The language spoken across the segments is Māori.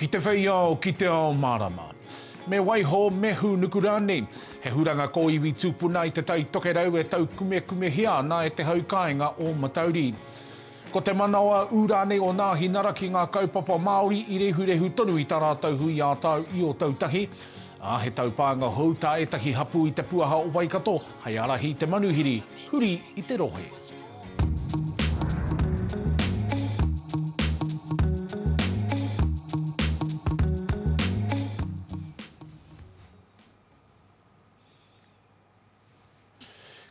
Ki te whei ao, ki te ao mārama. Me waiho, me hūnuku rānei. He huranga kōiwi tūpuna i Te Tai Tokerau e taukumekumehia ana e te hau kāinga o Matauri. Ko te manawa ū rānei o Nāhinara ki ngā kaupapa Māori i rehurehu tonu i tā rātou hui ā-tau i Ōtautahi, ā, he taupānga hou tā ētahi hapū i te puaha o Waikato hei ārahi i te manuhiri huri i te rohe.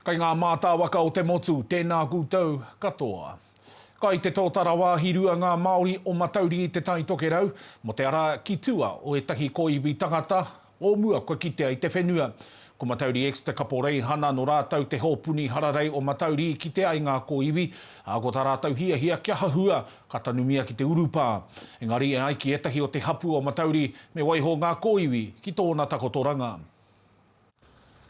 Kai ngā mātāwaka o te motu, tēnā koutou katoa. Kai te tōtara wāhi rua ngā Māori o Matauri i Te Tai Tokerau, mō te ara ki tua o ētahi kōiwi tangata, o mua kua kitea i te whenua. Ko Matauri X te kaporeihana, nō rātou te hōpuni hararei o Matauri i kite ai ngā kōiwi, ā, ko tā rātou hiahia kia hahua, ka tanumia ki te urupā. Engari e ai ki ētahi o te hapū o Matauri, me waiho ngā kōiwi ki tōna takotoranga.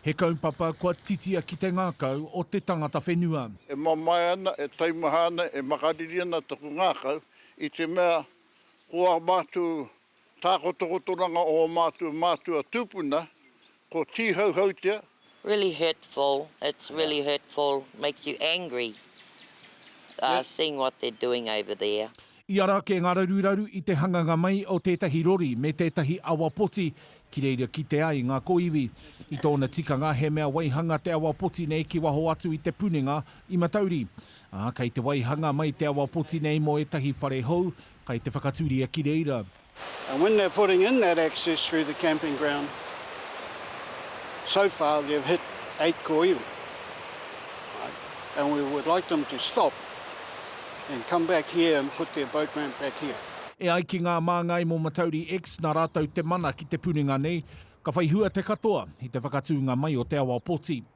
He kaupapa kua titia ki te ngākau o te tangata whenua. E mamae ana, e taimaha ana, e makariri ana taku ngākau i te mea ko ā mātou tākotokotoranga o ō mātou mātua tūpuna, ko Tīhauhautia, Really hurtful, it's really hurtful, makes you angry seeing what they're doing over there. I ara ake ngā raruraru i te hanganga mai o tētahi rori me tētahi awa poti ki reira kite ai ngā kōiwi. I tōna tikanga he mea waihanga te awa poti nei ki waho atu i te punenga i Matauri. Ā, kei te waihanga mai te awa poti nei mō ētahi whare hou, kai te whakaturia ki reira. And when they're putting in that access through the camping ground, so far they've hit eight koiwi. And we would like them to stop and come back here and put their boat ramp back here. E ai ki ngā māngai mō Matauri X, nā rātou te mana ki te puringa nei, ka whai hua te katoa i te whakatūnga mai o te awa poti.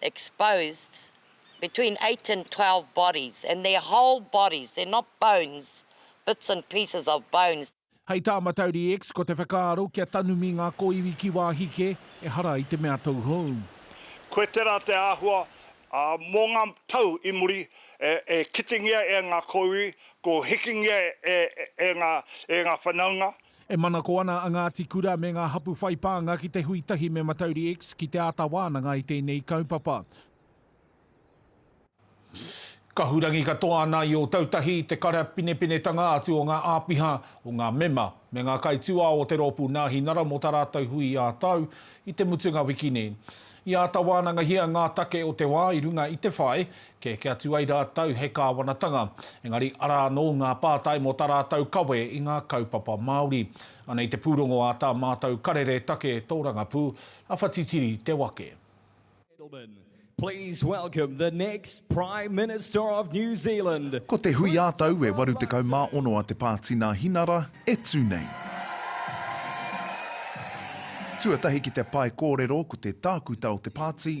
exposed between eight and twelve bodies and they're whole bodies, they're not bones, bits and pieces of bones. Hei tā Matauri X, ko te whakaaro kia tanumi ngā kōiwi ki wāhi kē, ehara i te mea tauhou. Koe tērā te āhua, ā, mō ngā tau i muri, e kitingia e ngā kōiwi, kua hikingia e ngā whanaunga, E manako ana a Ngāti Kura me ngā hapū whai pānga ki te hui tahi me Mataurie-X ki te āta wānanga i tēnei kaupapa. Kahurangi katoa ana i Ōtautahi i te karapinepenetanga atu o ngā āpiha, o ngā mema, me ngā kaitūao o te rōpū Nāhinara mō tā rātou hui ā-tau i te mutunga wiki nei. I āta wānangahia ngā take o te wā i runga i te whai, Kē, kia tū ai rātou he kāwanatanga, engari arā anō ngā pātai mō tā rātou kawe i ngā kaupapa Māori. Anei te pūrongo a tā mātou karere take tōrangapū, a Whatitiri Te Wake. Ko te hui ā-tau e 86 a Te Pātina Hinara e tū nei. Tuatahi ki te pae kōrero ko te tākuta o te pāti.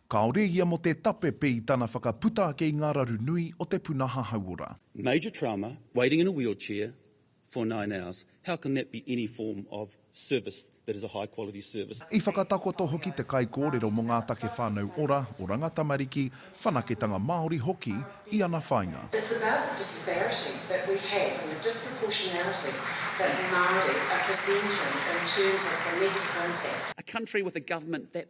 Kāore ia mō te tapepe i tana whakaputa ake i ngā raru nui o te puna hahauora. Major trauma, waiting in a wheelchair for nine hours, how can that be any form of service that is a high quality service? I whakatakoto hoki te kaikōrero mō ngā take whānau ora, oranga tamariki, whanaketanga Māori hoki i ana whāinga. It's about the disparity that we have and the disproportionality that Māori are presenting in terms of the negative impact. A country with a government that.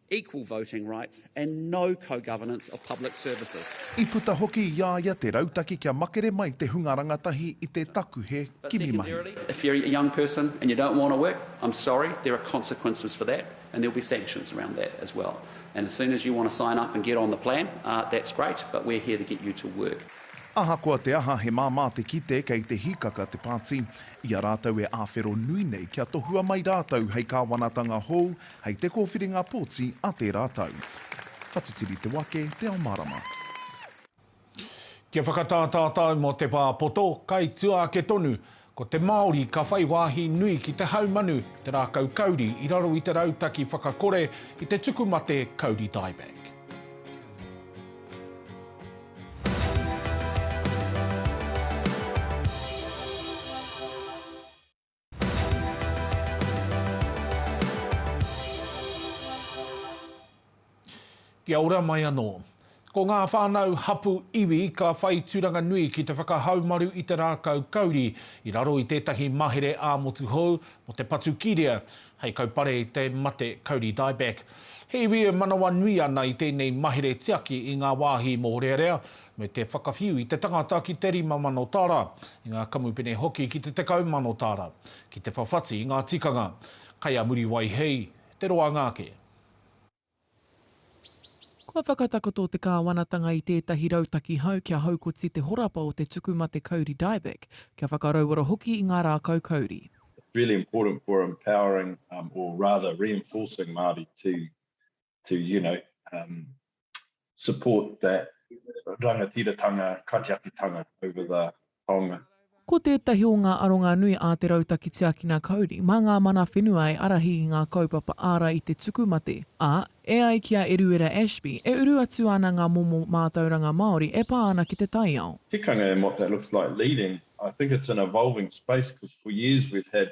equal voting rights and no co-governance of public services. I puta hoki i a ia te rautaki kia makere mai te hunga rangatahi i te takuhe kimi mahi. If you're a young person and you don't want to work, I'm sorry, there are consequences for that and there will be sanctions around that as well. And as soon as you want to sign up and get on the plan, that's great, but we're here to get you to work. Ahakoa te aha he māmā te kite kei te hīkaka te pāti, i a rātou e āwhero nui nei kia tohua mai rātou hei kāwanatanga hou, Hei te kōwhiringa pōti a tērā tau. Ka titiri te wake, te ao mārama. Kia whakatā tātou mō te pā poto, kai tua ake tonu, ko te Māori ka whai wāhi nui ki te haumanu, te rākau kauri i raro i te rautaki whakakore i te tuku mate kauri dieback. Kia ora mai anō. Ko ngā whānau hapu iwi ka whai tūranga nui ki te whakahaumaru i te rākau kauri i raro i tētahi mahere ā-motu hou mō te patu kīrea hei kaupare i te mate kauri dieback. He iwi e manawanui ana i tēnei mahere tiaki i ngā wāhi mōrearea, me te whakawhiu i te tangata ki te rima mano tāra, i ngā kamupene hoki ki te tekau mano tāra, ki te whawhati i ngā tikanga. Kai a Muriwai hei te roanga ake. Kua whakatakoto te kāwanatanga i tētahi rautaki hou kia haukoti te horapa o te tuku mate kauri dieback, kia whakarauora hoki i ngā rākau kauri. It's really important for empowering or rather reinforcing Māori to to you know um, support that rangatiratanga, katiakitanga over the taonga. Ko tētahi o ngā aronga nui a Te Rautaki Tiakina Kauri mā ngā mana whenua e arahi i ngā kaupapa ārai i te tuku mate, ā, e ai ki a Eruera Ashby, e uru atu ana ngā momo mātauranga Māori e pā ana ki te taiao. Tikanga and what that looks like leading, I think it's an evolving space because for years we've had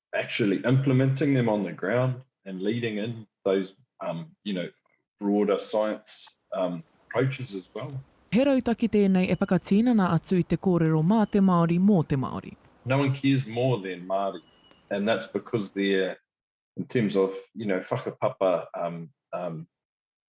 actually implementing them on the ground and leading in those, um, you know, broader science um, approaches as well. He rautaki tēnei e whakatīnana atu i te kōrero mā te Māori mō te Māori. No one cares more than Māori and that's because they're in terms of you know whakapapa um, um,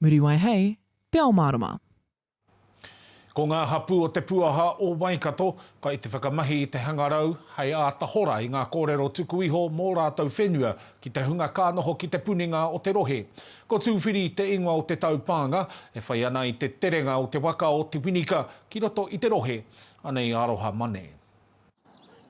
Muriwai hei te ao mārama. Ko ngā hapū o Te Puaha o Waikato kai te whakamahi i te hangarau hei āta hora i ngā kōrero tuku iho mō rātou whenua ki te hunga ka noho ki te puninga o te rohe. Ko Tūwhiri te ingoa o te taupānga e whai ana i te terenga o te waka o Te Winika ki roto i te rohe. Anei aroha mane.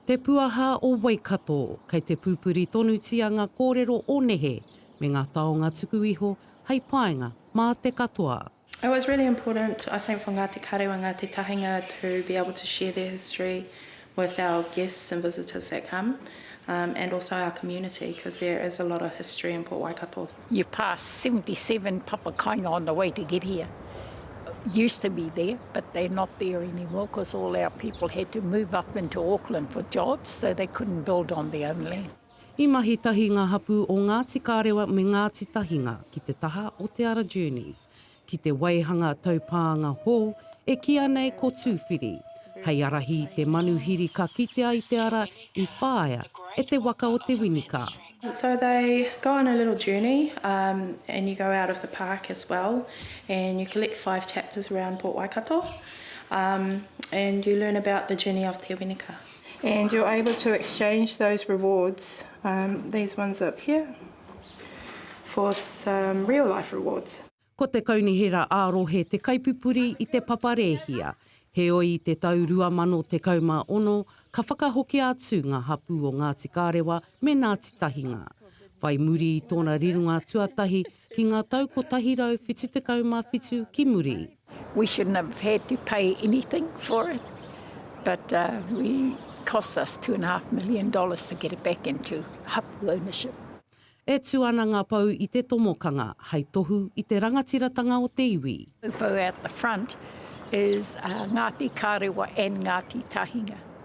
Te Puaha o Waikato. Kei te pupuri tonutia ngā kōrero o nehe, me ngā taonga tuku iho, hei painga mā te katoa. It was really important I think for Ngāti Karewa, Ngāti Tahinga to be able to share their history with our guests and visitors that come and also our community because there is a lot of history in Port Waikato. You pass seventy seven papakainga on the way to get here used to be there but they're not there anymore because all our people had to move up into Auckland for jobs so they couldn't build on their own land. I mahi tahi ngā hapū o Ngāti Kārewa me Ngāti Tahinga ki te taha o Te Ara Journeys. ki te waihanga taupānga hou e kīa nei ko Tūwhiri, hei ārahi i te manuhiri ka kitea i te ara i whāia e te waka o Te Winika. So they go on a little journey umm and you go out of the park as well and you collect five chapters around Port Waikato umm and you learn about the journey of Te Winika and you're able to exchange those rewards umm these ones up here. for some real life rewards. Ko te Kaunihera ā-Rohe te kaipupuri i te papa rēhia, heoi i te tau 2016 ka whakahokia atu ngā hapū o Ngāti Kārewa me Ngāti Tahinga. Whai muri i tōna rironga tuatahi ki ngā tau 177 ki muri, We shouldn't have had to pay anything for it but we cost us two and a half million dollars to get it back into hapu ownership. E tū ana ngā pou i te tomokanga hai tohu i te rangatiratanga o te iwi. Pou out the front is Ngāti Karewa and Ngāti Tahinga.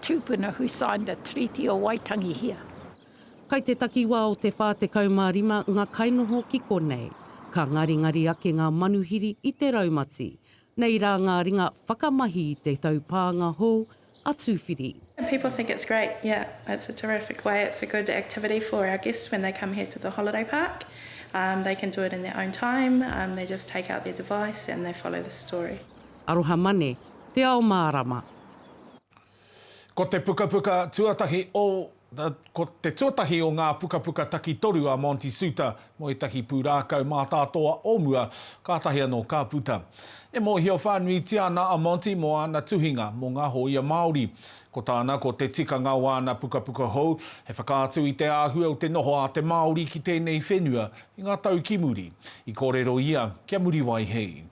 Tupuna who signed the Treaty o Waitangi here. Kai te takiwa o te wha tekau ma rima nga kainoho ki konei. Ka ngaringari ake nga manuhiri i te raumati. Nei ra nga ringa whakamahi i te taupaanga hou a Tuwhiri. And people think it's great, yeah, it's a terrific way, it's a good activity for our guests when they come here to the holiday park, um, they can do it in their own time, um, they just take out their device and they follow the story. Aroha Mane, Te Ao Mārama. Ko te pukapuka tuatahi o Ko te tuatahi o ngā pukapuka takitoru a Monty Soutar mō ētahi pūrākau mātātoa o mua, kātahi anō ka puta. E mōhio whānuitia ana a Monty mō āna tuhinga mō ngā hōia Māori. Ko tāna ko te tikanga o āna pukapuka hou, he whakaatu i te āhua o te noho a te Māori ki tēnei whenua i ngā tau ki muri. I kōrero ia kia Muriwai hei.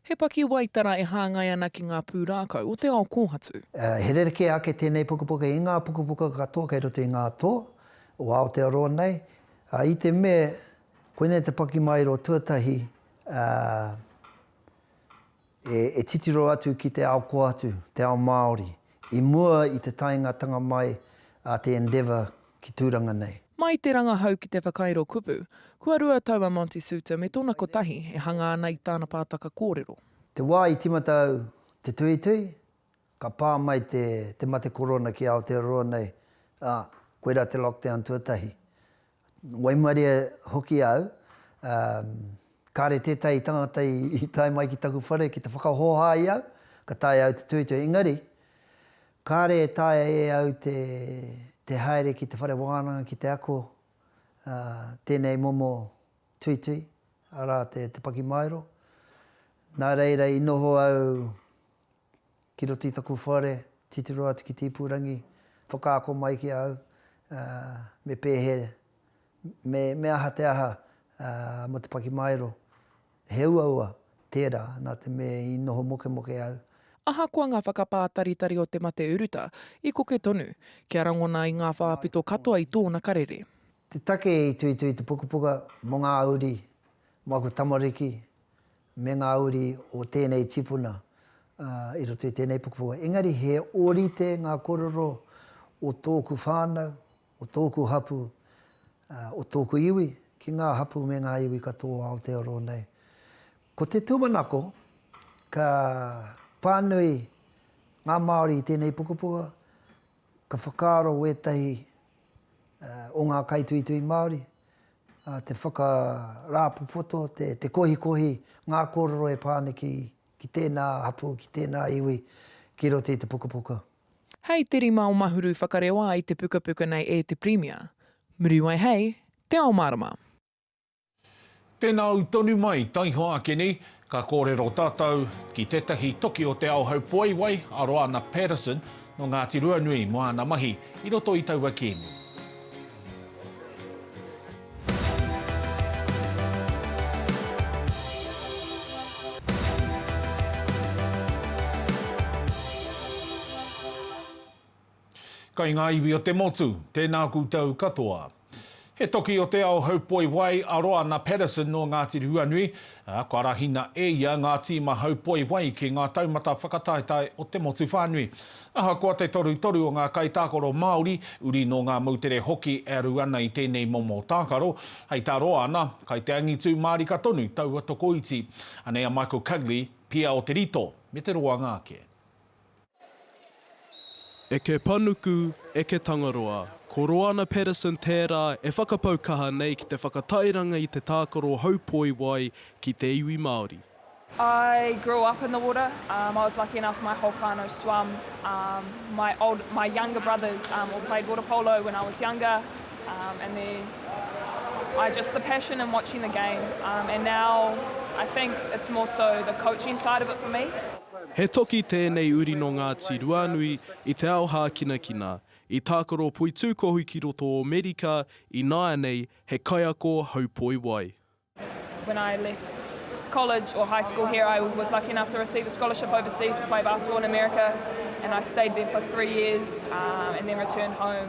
He pakiwaitara e hāngai ana ki ngā pūrākau o te ao kōhatu. He rerekē ake tēnei pukapuka i ngā pukapuka katoa kei roto i ngā toa o Aotearoa nei, ā, i te mea koinei te pakimaero tuatahi e titiro atu ki te ao kōhatu, te ao Māori. I mua i te taengatanga mai a te Endeavour ki Tūranga nei. Mai i te rangahau ki te whakairo kupu, kua rua tau a Monty Soutar me tōna kotahi e hanga ana i tāna pātaka kōrero. Te wā i tīmata au te tuhituhi, ka pā mai te te mate korona ki Aotearoa nei, ā, koirā te lockdown tuatahi. Waimarie hoki au, ā, kāre tētahi tangata i tae mai ki taku whare ki te whakahōhā i au, ka taea au te tuitui, engari, kāre e taea e au te, te haere ki te whare wānanga ki te ako, ā, tēnei momo tuitui, arā te, te pakimaero. Nā reira i noho au Ki roto i taku whare, titiro atu ki te ipurangi, whakaako mai ki a au, me pēhea, me, me aha te aha, mō te pakimaero. He uaua tērā, nā te mea i noho mokemoke au. Ahakoa ngā whakapātaritari o te mate uruta, i koke tonu, kia rangona i ngā whāpito katoa i tōna karere. Te take i tuitui te pukapuka mō ngā uri, mō aku tamariki, me ngā uri o tēnei tipuna i roto i tēnei pukapuka, engari he ōrite ngā kōrero o tōku whānau, o tōku hapū, o tōku iwi ki ngā hapū me ngā iwi katoa o Aotearoa nei. Ko te tūmanako, ka pānui ngā Māori i tēnei pukapuka, ka whakaaro wētahi o ngā kaituitui Māori, te whakarāpopoto, te kohikohi, ngā kōrero e pā ana ki tēnā hapū, ki tēnā iwi, ki roto i te pukapuka. Hei te rima o Mahuru whakarewa ai te pukapuka nei e te Pirimia. Muriwai hei, Te Ao Mārama. Tēnā au tonu mai, taihoa ake nei, Ka kōrero tātou ki tētahi toki o Te Aohaupoeiwai, a Roana Paterson, nō Ngāti Ruanui, mō āna mahi i roto i taua kēmu. Kai ngā iwi o te motu, tēnā koutou katoa. He toki o te ao haupoi wai a Roana Paterson nō Ngāti Ruanui, ā, kua arahina e ia ngā tīma haupoi wai ki ngā taumata whakataetae o te motu whānui. Ahakoa te torutoru o ngā kaitākaro Māori, uri nō ngā moutere hoki e aru ana i tēnei momo tākaro, hei tā Roana, kai te angitū mārika tonu taua tokoiti. Anei a Michael Cugley, Pia o Te Rito me te roanga ake. Eke Panuku, Eke Tangaroa. Ko Roana Paterson tērā e whakapau kaha nei ki te whakatairanga i te tākaro haupoi wai ki te iwi Māori. I grew up in the water, um, I was lucky enough my whole whānau swam, um, my old, my younger brothers um, all played water polo when I was younger, um, and then I just the passion in watching the game, um, and now I think it's more so the coaching side of it for me. He toki tēnei uri nō Ngāti Ruanui i te ao hākinakina, i tākaro poitūkohu ki roto o Amerika i nāianei he kaiako haupoi wai. When I left college or high school here I was lucky enough to receive a scholarship overseas to play basketball in America and I stayed there for three years and then returned home.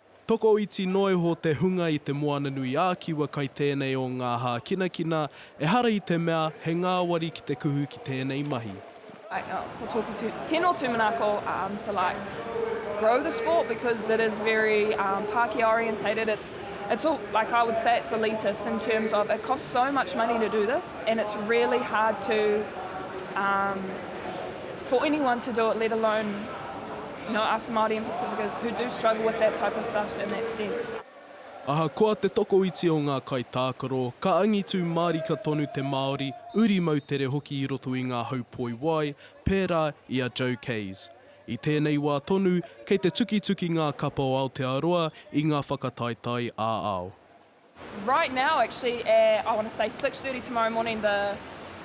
Tokoiti noa iho te hunga i te Moana-nui-ā-Kiwa kai tēnei o ngā hākinakina, ehara i te mea he ngāwari ki te kuhu ki tēnei mahi. Like oh ko toku tu tino tumanako um to like grow the sport because it is very um Pakia orientated it's it's all like I would say it's elitist in terms of it costs so much money to do this and it's really hard to um for anyone to do it let alone No us Māori and Pacificas who do struggle with that type of stuff in that sense. Ahakoa te tokoiti o ngā kaitākaro, ka angitu mārika tonu te Māori, uri moutere hoki i roto i ngā hau poi wai, pērā i a Joe Kays. I tēnei wā tonu, kei te tukituki ngā kapa o Aotearoa i ngā whakataetae ā-ao. Right now actually at I want to say six thirty tomorrow morning the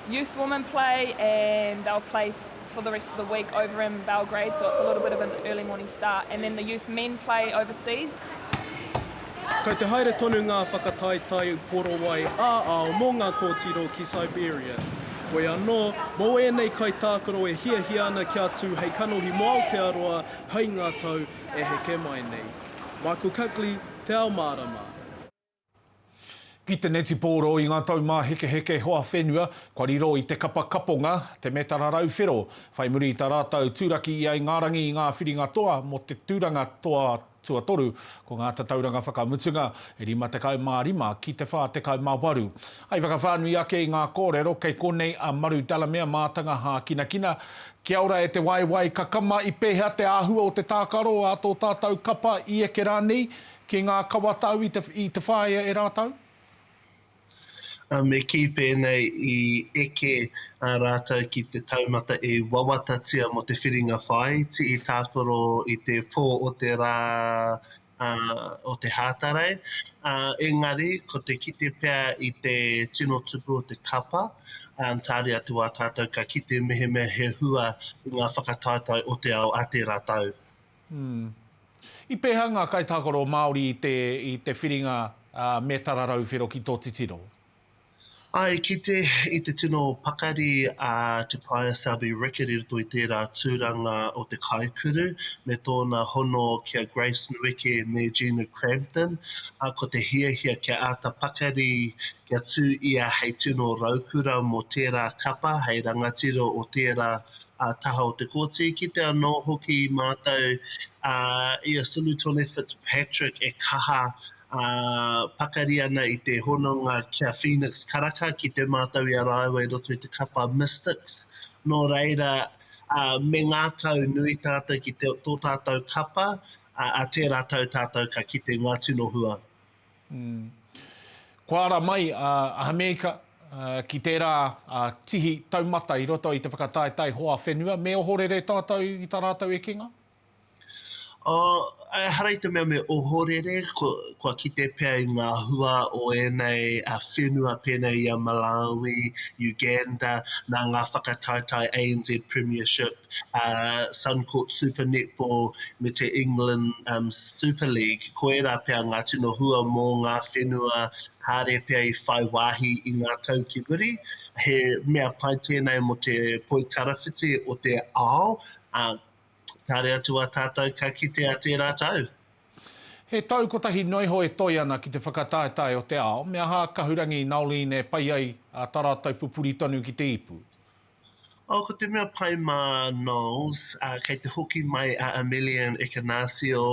youth women play and they'll play for the rest of the week over in Belgrade so it's a little bit of an early morning start and then the youth men play overseas. Kei te haere tonu ngā whakataetae korowai ā-ao mō ngā kōtiro ki Siberia. Whoi anō, mō ēnei kaitākaro e hiahia ana kia tū hei kanohi mō Aotearoa hai ngā tau e heke mai nei. Michael Cuckley, Te Ao Mārama. Ki te netipōro i ngā taumāhekeheke hoa whenua kua riro i te kapa kaponga, te metara rau whero, whai muri i tā rātou turaki i Aingārangi i ngā whiringa toa mō te tūranga toa tuatoru, ko ngā tatauranga whakamutunga, e 55 ki te 48. Hei whakawhānui ake i ngā kōrero, kei konei a Maru Delamere mātanga hākinakina, Kia ora e te waewae, ka kama i pehea te ahua o te tākaro a tō tātau kapa i eke rānei ki ngā kawatau i te whāea e rātau? Me kī pēnei, i eke rātau ki te taumata i wawatatia mō te whiringa whāiti i tākaro i te pō o te rā, o te hātarei, engari ko te kite pea i te tino tupu o te kapa, tāre atu wā tātou ka kite mehemea he hua i ngā whakataetae o te ao a tērā tau. I pēhea ngā kaitākaro Māori i te whiringa me Tararau Whero ki tō titiro? I kite i te tino pakari a Te Paea Selby Rickard i roto i tērā tūranga o te kaikuru me tōna hono ki a Grace Nueke me Gina Crampton, ā, ko te hiahia kia āta pakari kia tū ia hei tino raukura mō tērā kapa, hei rangatira o tērā taha o te Kōti. I kite anō hoki mātou i a Solutone Fitzpatrick e kaha ā, pakari ana i te hononga ki a Phoenix Karaka ki te mātau i a rāua i roto i te kapa Mystics. Nō reira, ā, me ngākau nui tātou ki te, tō tātou kapa, ā, ā tērā tau tātou ka kite ngā tino hua. Umm. Kua ara mai a Ahameika ki tērā tihi taumata i roto i te whakataetae hoa whenua, me ohorere tātou i tā rātou ekenga? Ehara i te mea me ohorere, kua kite pea i ngā hua o ēnei whenua pēnei i a Malawi, Uganda, nā ngā whakataetae ANZ Premiership, Suncorp Super Netball me te England Super League, ko ērā pea ngā tino hua mō ngā whenua kāre pea i whai wāhi i ngā tau ki muri. He mea pai tēnei mō te poitarawhiti o te ao, Kāre atu a tātou ka kitea tērā tau. He tau kotahi noa iho e toe ana ki te whakataetae o te ao, me aha a Kahurangi Noeline e pai ai tā rātou pupuri tonu ki te ipu? Oh, ko te mea pai mā Noels, kei te hoki mai a Amelian Ekenasio,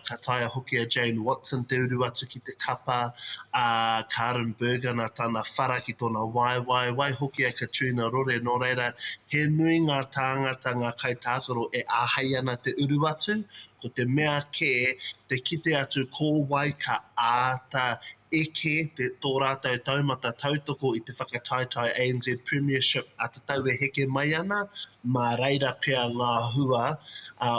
ka taea hoki a Jane Watson te uru atu ki. ki te kapa a Karin Berger nā tana whara ki tōna waewae, wai hoki a Katrina Rore, nō reira, he nui ngā tāngata, ngā kaitākaro e āhei ana te uru atu, ko te mea kē, te kite atu ko wai ka āta eke tō rātou taumata tautoko i te whakataetae ANZ Premiership a te. tau e heke mai ana, mā reira pea ngā hua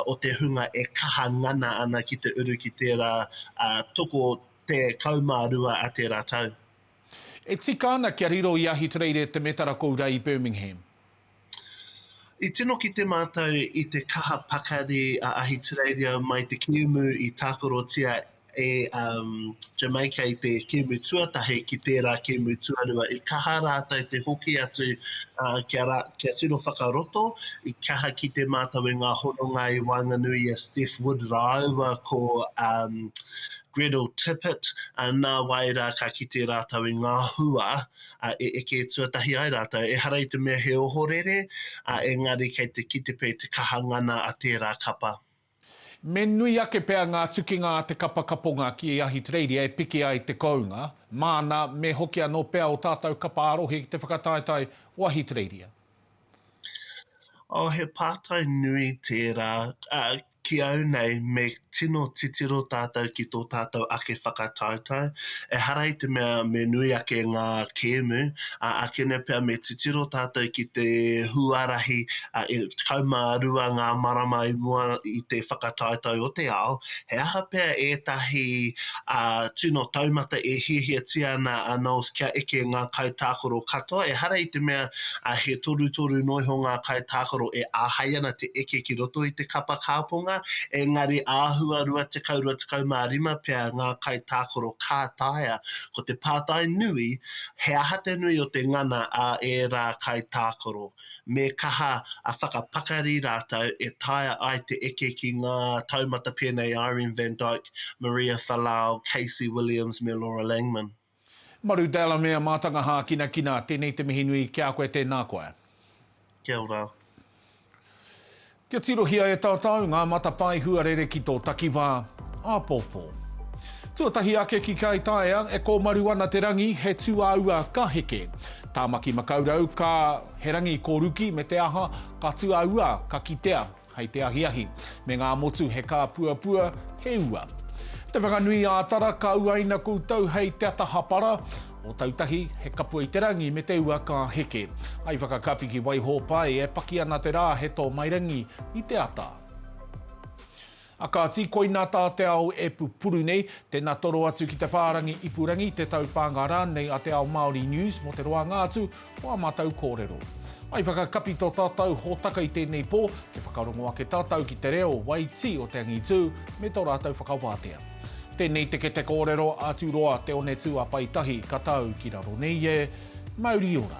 o te hunga e kaha ngana ana ki te uru ki tērā toko 12 a tērā tau. E tika ana kia riro i Ahitereiria te metara kou rā i Birmingham. I tino kite mātou i te kaha pakari a Ahitereiria mai te kēmu i tākarotia e um, Jamaica i te kēmu tuatahi ki tērā kēmu tuarua. I kaha rātou te hoki atu uh, kia, ra, kia tino whakaroto, i kaha ki te mātou e ngā hononga i waenganui a Steph Wood rāua ko um, Gretel Tippett, uh, nā wai rā ka kite rātou i ngā hua uh, e eke tuatahi ai rātou. E hara i te mea he ohorere, uh, engari kei te kite pei te kaha ngana a tērā kapa. Me nui ake pea ngā tukinga a te kapa kaponga ki Ahitereiria e piki ai te kounga, māna me hoki anō pea ō tātou kapa ā-rohe ki te whakataetae o Ahitereiria. Oh, he pātai nui tērā. Ki au nei, me tino titiro tātou ki tō tātou ake whakataetae, Ehara i te mea me nui ake ngā kēmu, ā, ākene pea me titiro tātou ki te huarahi 12 ngā marama i mua i te whakataetae o te ao, he aha pea ētahi tino taumata e hiahiatia ana a NOLS kia eke ngā kaitākaro katoa, ehara i te mea ā, he torutoru noiho ngā kaitākaro e āhei ana te eke ki roto i te kapa kāponga, engari āhua 20, 25 pea ngā kaitākaro ka taea. Ko te pātai nui, he aha te nui o te ngana a ērā kaitākaro? Me kaha a whakapakari rātou e taea ai te eke ki ngā taumata pēnei Irene van Dyke, Maria Falau, Casey Williams me Laura Langman. Maru Delamere Matanga Hākinakina Tēnei te mihi nui ki a koe Tēnā koe. Kia ora. Kia tirohia e tātou ngā matapae huarere ki tō takiwā, āpōpō. Tuatahi ake ki Kai Taea, e kōmaru ana te rangi, he tūāua ka heke. Tāmaki Makaurau, ka, he rangi kōruki me te aha, ka tūāua, ka kitea. Hei te ahiahi, me ngā motu he kāpuapua, he ua. Te Whanganui ā Tara ka uaina koutou hei te ata hapara, Ōtautahi, he kapua i te rangi me te ua ka heke. Hai whakakapi ki Waihōpai e paki ana te rā he tōmairangi i te ata. A kāti, koina tā te ao e pupuru nei. Tēnā toro atu ki te whārangi ipurangi, te taupānga rānei a Te Ao Māori News mō te roanga atu o ā mātou kōrero. I whakakapi tō tātou hōtaka i tēnei pō, kia whakarongo ake tātou ki te reo wai tī o te angitū me tō rātou whakawātea. Tēnei te kete kōrero a Tūroa Te Onetū a Pai Tahi ka tau ki raro nei e. Mauri ora!